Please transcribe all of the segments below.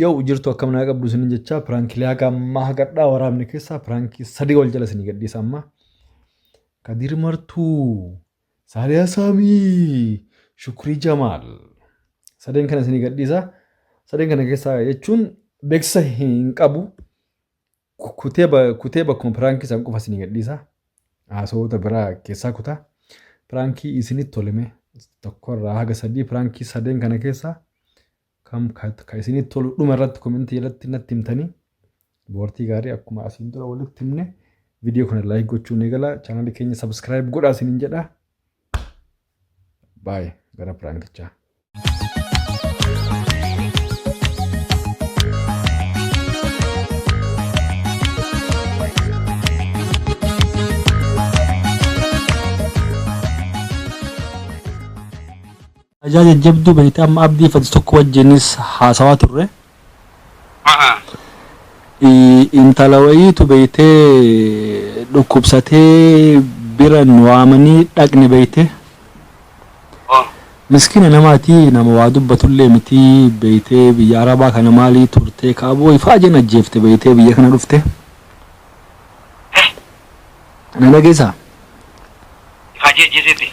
Yoo jirtu akkam naa qabdu isinin jechaa piraankilee haga ammaa hagadhaa waraabne keessaa piraankii sadii ol jala isinii gadhiisa ammaa. Kadir Martuu, Saaliyaa Saamii, Shukrii Jamaal. Sadeen kana isinii gadhiisa. Sadeen kana keessaa jechuun beeksisa hin qabu. Kutee ba- kutee bakkuma piraankii san qofa isinii gadhiisa. Haasawoota biraa keessaa kutaa. Piraankii isinitti tolime tokkorraa haga sadii piraankii sadeen kana keessaa Kam ka, ka isinitti tolu dhuma irratti komentii jalatti natti himtanii dubartii gaarii akkuma asiin dura walitti himne viidiyoo kana laayik gochuun eegala chaanalii keenya sabskiraayib godhaa isiniin jedha. Baay'ee gara piraankichaa. Ajaa jajjabduu beekta amma abdii fati tokko wajjinis haasawaa turre Aha. I- intala wayiitu beeytee dhukkubsatee bira nu waamanii dhaqne beeyte Oh. miskina namaati nama waa dubbatullee miti beeytee biyya arabaa kana maalii turtee kaaboo ifaa jeen ajjeefte beeytee biyya kana dhufte Na dhageessaa? Ifaajee ajjeeseeti.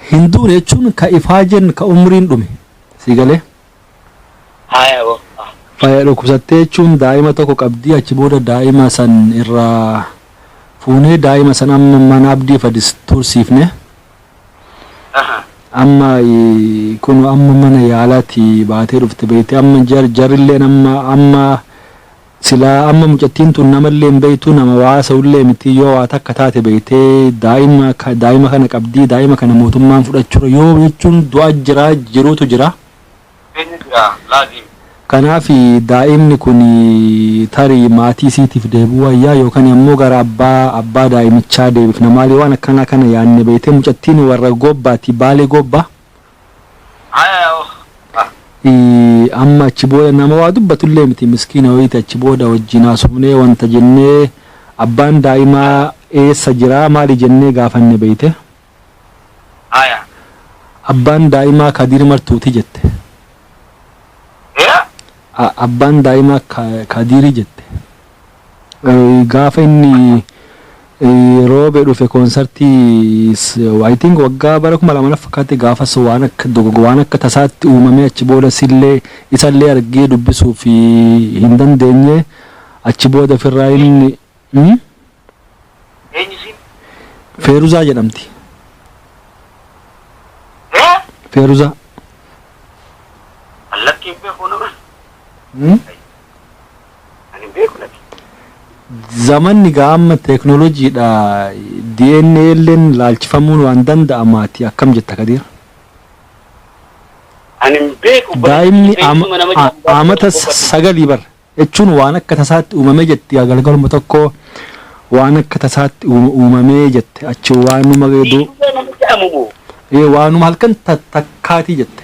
Hin duune jechuun ka ifaajeen ka umriin dhume. Sii galee? Haaya boo. Ah. Faya dhukkubsattee jechuun daa'ima tokko qabdii achi booda daa'ima san irraa fuunee daa'ima san amma mana abdii fadis tursiifne. Aha. Amma eh, kun amma mana yaalaati baatee dhufte beekte amma jar jarilleen amma amma Silaa amma mucattiin tun namallee hin beektu nama waa haasawullee miti yoo waa takka taate beektee daa'ima daa'ima kana qabdi daa'ima kana mootummaan fudhachura yoo jechuun du'a jira jiruutu jira. Jireenya jira laazim. Kanaaf daa'imni kun tarii maatii isiitiif deebi'uu wayyaa yookan ammoo gara abbaa abbaa daa'imichaa deebifna maali waan akkanaa kana yaanne beektee mucattiin warra goobbaati baalee goobba Haya yaa ukh. Amma achi booda nama waa dubbatullee miti miskiina wayiiti achi booda wajjin haasofnee wanta jennee abbaan daa'imaa eessa jira maali jennee gaafanne beeyte. Haya. Abbaan daa'imaa Kadiir Martuuti jette. Yaa. Abbaan daa'imaa Kadiiri jette. Gaafa inni roobe dhufe koonsartii I think waggaa bara kuma lama na fakkaatti gaafas waan akka dogogo waan akka tasaatti uumamee achi booda sillee isallee argee dubbisuuf hin dandeenye achi booda firraa inni hmm? Eenyu siin? Feeruzaa jedhamti. Ee? Feeruzaa. Allatti hin beeku nama. Hmm? Ani hin beeku laki. Zamanni gaa amma technology dha DNA illeen laalchifamuun waan danda'amaati akkam jetta Kadiir? Ani hin beeku obboleessa Daa'imni kiyya ama- beeksuma nama a- jedhamu gaafa amata tokko obboleessa. sagalii bar jechuun waan akka tasaatti uumamee jetti yaa galgaluma tokko waan akka tasaatti uuma- uumamee jette achi waanuma du Dhiirri nama jedhamu moo? ee, waanuma halkan ta- takkaatii jette.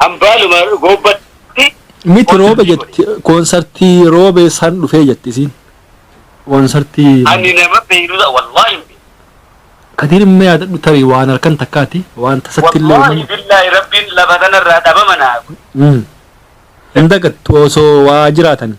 Hambaaluma goobbatti Miti roobe konsartii godhe. jetti koonsartii roobee san dhufee jetti isiin. Koonsartii Ani nama beeyruudha wallaahi hin beeku. kadiir immoo yaadadhu tarii waan halkan takkaati waan tasatti illee Wallaahi uumama. billaahi rabbiin lafa kanarraa dhabama naa godhe. Mm. Hin dagattu osoo waa jiraatanii.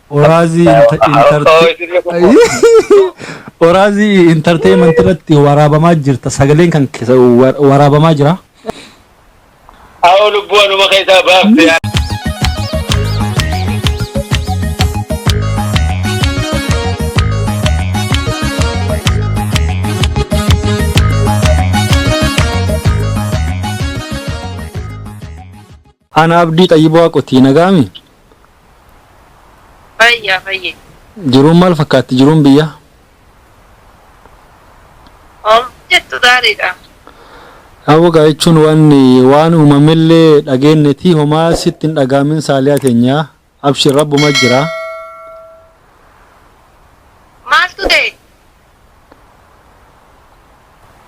Oraazii Oraazii intarteemanti irratti waraabamaa jirta sagaleen kan keessa waraabamaa jira. Haa lubbuu anuma keessaa baafte. Ana Abdii Xayyib Waaqotii nagaami? Fayya fayye. Jiruun maal fakkaatti jiruun biyyaa? Om jettu gaariidha. Aboo gaa jechuun waan waan uumamellee dhageennetii homaa sitti hin dhagaamin saaliyaa teenyaa. Abshir rabbuma jira. Maaltu ta'e?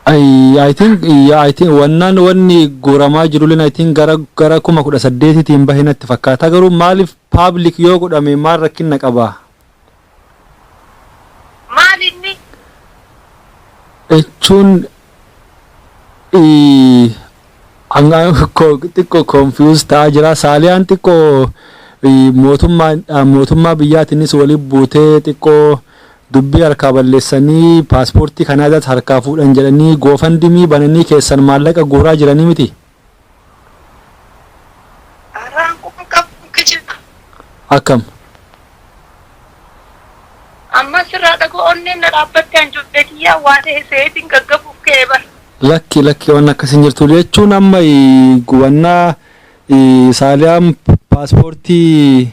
I I think yeah, I think wannaan wanni guuramaa jirulleen I think gara gara kuma kudha saddeetitiin bahe natti fakkaata garuu maaliif public yoo godhame maal rakkinna qaba? Maal inni? Jechuun xiqqo confuse ta'aa jira. Saaliyaan xiqqo mootummaadhaan mootummaa biyyaatiinis waliin buutee xiqqoo dubbii harkaa balleessanii paaspoortii Kanaadaas harkaa fuudhan jedhanii goofandimii bananii keessan maallaqa guuraa jiranii miti? Araan kun qabuun kijibaa. Akkam. Ammas sirraa dhagoo onneen na dhaabbatte an ijoollee kiyyaa waa tahe seetiin gaggabuuf ka'e bar. Lakki lakki wanni akkas hin jirtu jechuun amma gubannaa saaliyaan paaspoortii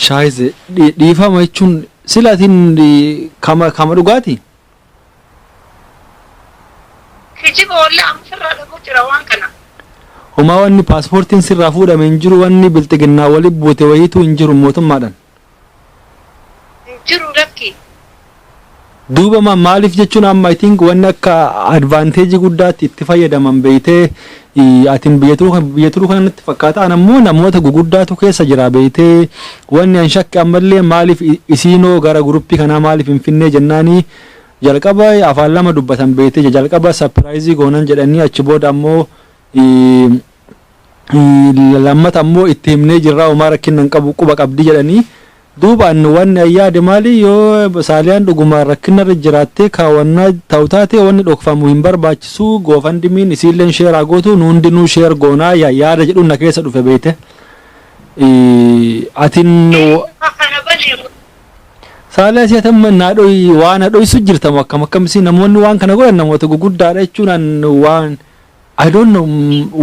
shaayise dhiifama jechuun sila atiin kama kama dhugaati. Kijiba wallahi amma firraa dhabuu jira waan kana. Homaa wanni paaspoortiin sirraa fuudhame hin jiru wanni bilxiginnaa wali buute wayiituu hin jiru mootummaadhan. Hin jiru lakki. Duuba ma maaliif jechuun amma I think wanni akka advantage guddaatti itti fayyadaman beeytee Atin biyya turu kana natti fakkaata an ammoo namoota guguddaatu keessa jira beeytee wanni an shakke ammallee maaliif isiinoo gara guruppii kanaa maaliif hin finnee jennaani jalqaba afaan lama dubbatan beeytee jalqaba sapiraayizii goonan jedhanii achi booda ammoo lammata ammoo itti himnee jirraa homaa rakkinna hin qabu quba qabdi jedhanii Duuba anni wanni an yaade maali, yo Saaliyaan d'ugumaan rakkinna irra jiraattee kaawannaa tau taate wanni d'okfamu hin barbaachisu, GoFundMe'n isiilleen share haa gootu, nu hundinuu share goona yaada jedhuun na keessa dhufe beeyte. Atin. Saaliyaa isii ati amma naa dhoy waa na dhoysu jirta moo akkam akkam isii namoonni waan kana godhan namoota guguddaadha jechuun an waan I don't know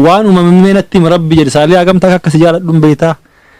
waan uumame mee natti himi rabbi jedhi Saaliyaa hagamta akka si jaaladhun beeytaa.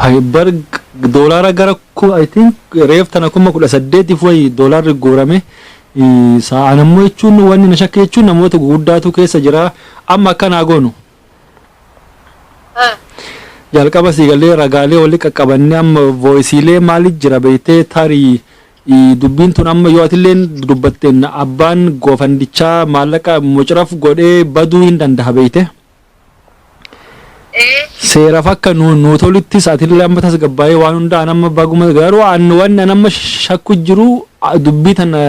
Hay bar doolaara gara ku I think reef tana kuma kudha saddeetiif wayi doolaarri guurame sa'aan ammoo jechuun wanni na shakke jechuun namoota guguddaatu keessa jira amma akka naa goonu. Jalqaba sii galee ragaalee wali qaqqabanne amma vooyisiilee maali jira beeytee tarii dubbiin tun amma yoo atilleen dubbatteen abbaan goofandichaa maallaqa mucraf godhee baduu hin dandaha beeytee. Ee. Seeraf akka nu nuu toluttis atillee amma tasgabbaa'ee waan hunda an amma baguma garuu an wanni an amma shakku jiru a- dubbii tana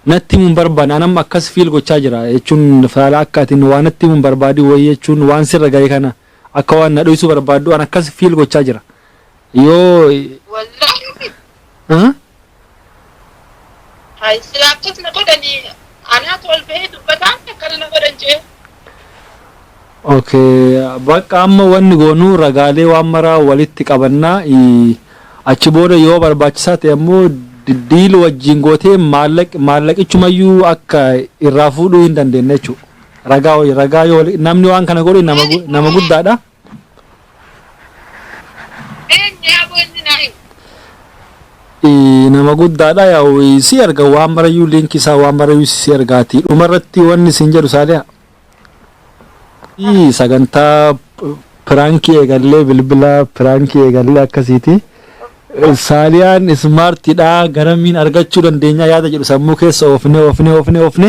natti himuun barbaanne an amma akkas fiil gochaa jira jechuun faala akka ati nu waa natti himuun barbaadin wayii jechuun waan sirra ga'e kana akka waan na dhoysuu barbaaddu an akkas fiil gochaa jira Yoo Wallahi ah, haa silaa akkas na godhanii anaatu ol bahee dubbataan akkana na godhan jee. okay bakka amma wanni goonuu ragaalee waan maraa walitti qabannaa ii, achi booda yoo barbaachisaa ta'e ammoo di- diil wajjin gootee maallaq maallaqichumayyuu akka irraa fuudhuu hin dandeenye jechuudha. Ragaa wajjin ragaa yoo wali- namni waan kana godhe nama gu- nama guddaadha. nama guddaadha yaa'u si erga waan marayyuu liinkii isaa waan marayyuu si ergaati dhuma irratti wanni isin jedhu saaliha Ii, sagantaa piraankii eegallee bilbila piraankii eegallee akkasiiti saaliyaan ismaartiidha garamiin argachuu dandeenya yaada jedhu sammuu keessa oofne oofne oofne oofne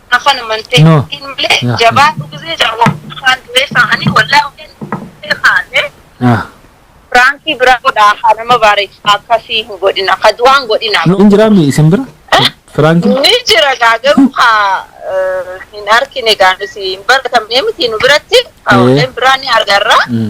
afan amantee No. hin malee Yeah. jabaa dhugizee jaboo afaan du'ee sa'anii wallaa hojeen dhugee kaatee Ah. firaankii biraa godhaa haa nama baareessa akkasii hin godhina ka du'aan godhina No, hin jiraa mi isin bira? Firaanki? ni jira gaa garuu haa eh, hin argine gaa nuti hin baratamne miti nu biratti Eh. hawleen biraa ni argarra Mm.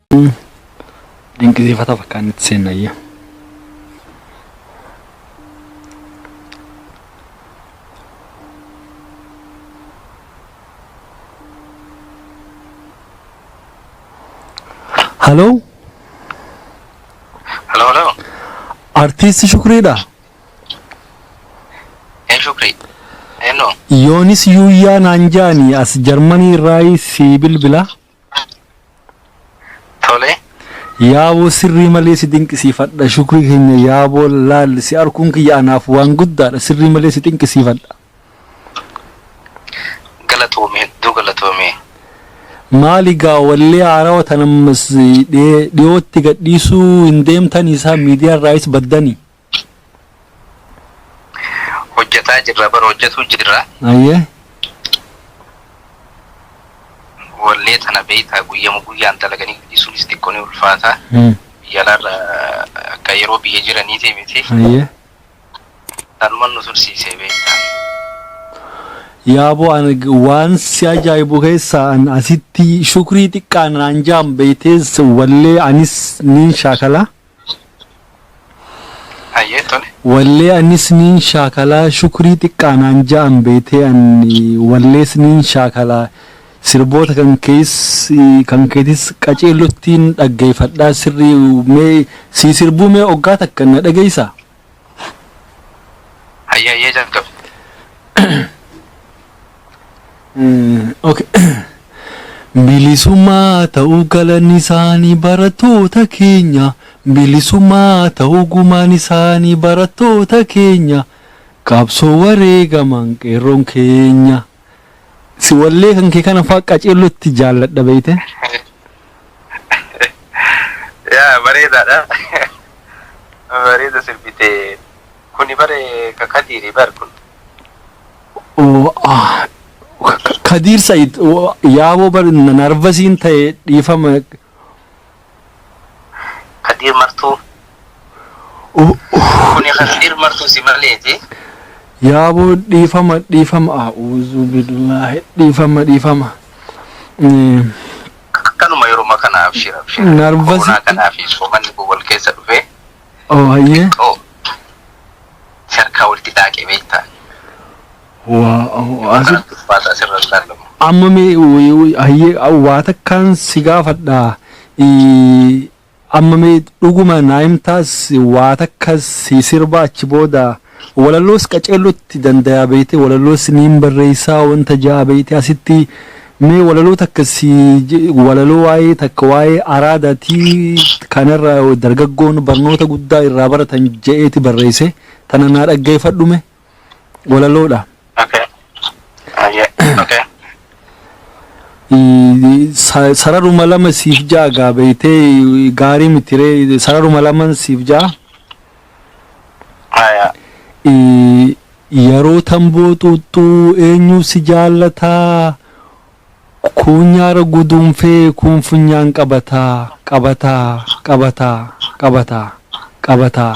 Dinqisiifata fakkaan itti seennayya. Haloo Hello, hello. artiisti Shukriidha. Hey, Shukri. Hello. Yoonis Yuuyyaa naan jaani as Jarmanii irraa sii bilbila. Tole. Yaaboo sirrii malee si dinqisiifadha shukrii keenya yaaboo laal si arkuun kiyya anaaf waan guddaadha sirrii malee si xinqisiifadha. Galatoomi hedduu galatoomi. Maali gaa wallee haarawa tana ammas dhiyootti gadhiisuu hin deemtanii saa miidiyaa irraayis baddanii? hojjataa jirra bar hojjatuu jirra Ayyee. wallee tana beeytaa guyyama guyyaan dalaganii dhiisuunis xiqqoo ni ulfaata Hmm. biyya alaarra akka yeroo biyya jiraniitii miti Ayyee. tanuma nu tursiisee beeytaa Yaaboo ani g- waan si ajaa'ibu keessaa an asitti shukrii xiqqaa naan jaam beeytees wallee anis niin shaakala. Hayyee tole. Wallee anis niin shaakalaa shukrii xiqqaa naan ja'an beetee an wallees niin shaakalaa sirboota kan kees kan keetis qaceellottiin dhaggeeyfadhaa sirrii mee sii sirbuu mee oggaa takka na dhageeysaa? Hayyee hayyee jalqabe. Okay. Bilisummaa ta'uu galanni isaanii barattoota keenya. Bilisummaa ta'uu gumaan isaanii barattoota keenya. Qabsoo wareegaman qeerroon keenya. Si wallee kan kee kana faa qaceellotti jaalladha beeyte. Yaa bareedaadha. Bareeda sirbite. Kuni bare ka kadiiri bar kun. Oo, ah, Ka- Ka- Kadiir Said oo, yaaboo bar narvasiin ta'e dhiifama Kadiir martuu. Kuni kadiir martuu si maleeti. Yaabo dhiifama dhiifama a'uuzu billaahi dhiifama dhiifama. Akkanuma yeruma kana abshir abshir. Narvasi- Koronaa kanaa fi soomanni kun wal keessa dhufee Oo hayyee. xiqqoo si harkaa walitti daaqe beektaa. Amma mee hayyee waa takkaan si gaafadha. Amma mee dhuguma naa himtaas waa takka si sirba achi booda walalloos qaceellotti dandayaa beeyte walalloos niin barreessaa wanta ja'a beeyte asitti mee walaloo takka si walaloo waa'ee takka waa'ee araadaatii kanarra dargaggoon barnoota guddaa irraa baratan ja'eeti barreesse tana naa dhaggeeffadhu mee. walaloodha. Okay. Ayyee. Okay. I- sa- Sararuma lama siif ja'a gaa beeytee gaarii mitiree sararuma laman siif ja'a. Ayaa. I- Yeroo tamboo xuuxxuu eenyuu si jaallataa kuunyaara guduunfee kuun funyaan qabataa qabataa qabataa qabataa qabataa.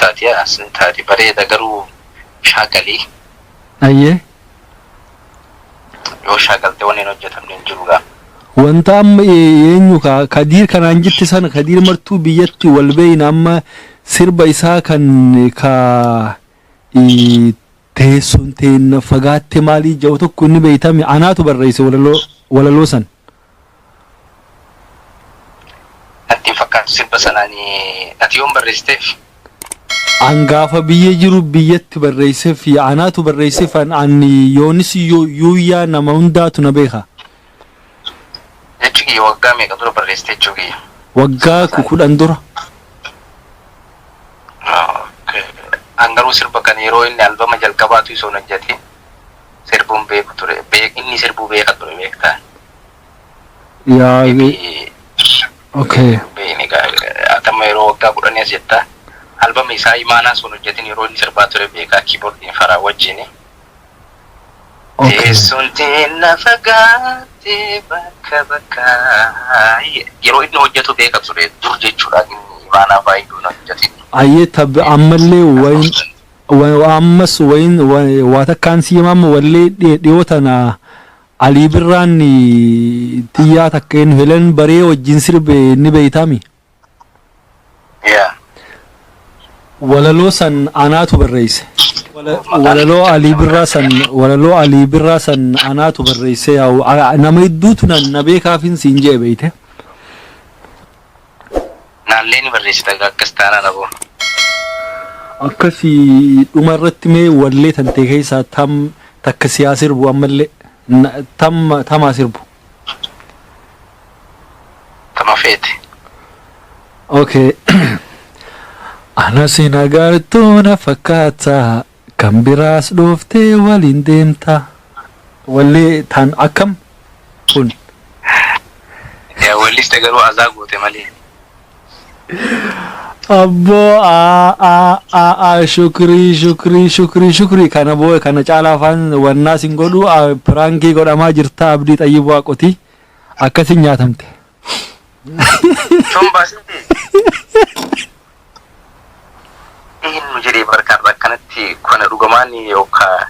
Taati as taati bareeda garuu shaakalii. Ayyee. Yoo shaakalte wanni hin hojjetamne hin jiru gaa. Wanta amma eenyu ka kadiir kanaan jette sana kadiir martuu biyyatti wal beeyna amma sirba isaa kan ka teessoon teenna fagaatte maalii ja'u tokko inni beeytami anaatu barreeyse walaloo walaloo san. Natti hin fakkaatu sirba sana ani ati yoon barreessiteef. An gaafa biyya jiru biyyatti barreesseef yaa anaatu barreesseef an an yoonis yoo yuuyyaa nama hundaatu na beeka. Jechi kiyya waggaa meeqa dura barreessite jechuu kiyya. Waggaa Sirba sana. kudhan dura. Okay. An garuu sirba kana yeroo inni albama jalqabaatu isoon hojjete. sirbuun beeku ture beek inni sirbuu beeka ture beektaa Yaa inni okay. beekne atamma yeroo waggaa kudhanii as jettaa albama isaa imaanaa sun hojjetin yeroo inni sirbaa ture beekaa kiibordiin faraa wajjini Okay. teessoon teenna fagaattee bakka bakka yeroo inni hojjetu beeka ture dur jechuudha inni imaanaa faa iyyuu hin hojjetin Ayyee tabbi ammallee wayin Ammas wayiin waa takkaan sii himaa amma wallee dhiyoo tana Alii Birraan tiyyaa takka eennu Helen Baree wajjin sirbe ni beeytaami? Yaa. Walaloo san anaatu barreeyse. Walaloo Alii Birraa san walaloo Alii Birraa san anaatu barreeyse yaa nama hedduutu na beekaafin siin je'e beeyte. Naallee ni barreessita gaa akkas taanaan aboo. Akkasi dhuma irratti mee wallee tantee keessaa tam takka siyaa sirbu ammallee Na- tam tamaa sirbu. Tama feete. Okay. Ana si nagartuu na fakkaata Kan biraas dhooftee waliin deemta. Wallee tan akkam kun. Yaa walliste garuu azaa goote malee. Abboo aa aa aa aa shukrii shukrii shukrii shukrii kana boo'e kana caalaa afaan wannaa sin godhu aa, piraankii godhamaa jirta abdii xayyibuu haqotii akkasi nyaatamte. Sun baasite. Dhihin nu jedhee barkaan akkanatti kana dhugamaan yookaan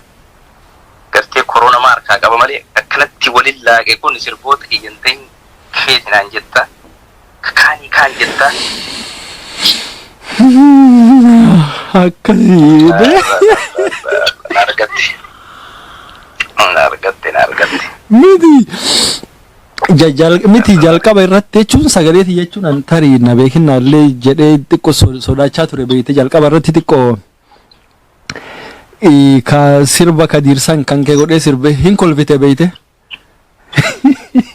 gartee koroona maa harkaa qaba malee akkanatti waliin laaqe kun sirboota kiyyan ta'in keeti naan jetta. Kaanii kaan jetta. Akkasii bee. Na argatte. Na argatte na argatte. Miti. Ja- jal- miti jalqaba irratti jechuun sagalee ti jechuun an tarii na beekinna illee jedhee xiqqoo so- sodaachaa ture beekte jalqaba irratti xiqqoo ii, ka sirba ka diirsan kan kee godhee sirbe hin kolfite beekte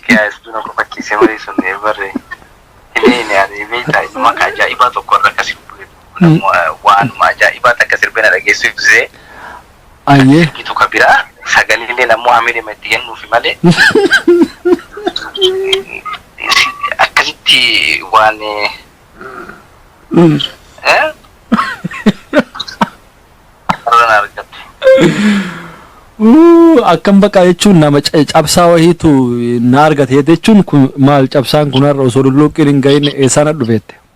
Yaa istuu na kofachiisee malee sun ee barre. Ilee inni aree beektaa inni maqaa ajaa'ibaa tokko irra akka sirbu. Waanuma ajaa'ibaa takka sirbina dhageessisee Ayyee. ergitu ka biraa sagaleelleen ammoo hameelema itti kennuufi malee akkasitti waan eh, irraan argattu. Uu, Akkam baqa jechuun nama ca- cabsaa wahiitu na argate jechuun kun maal cabsaan kun har'a osoo lulluuqqiin hin gahin eessaan dhufeette.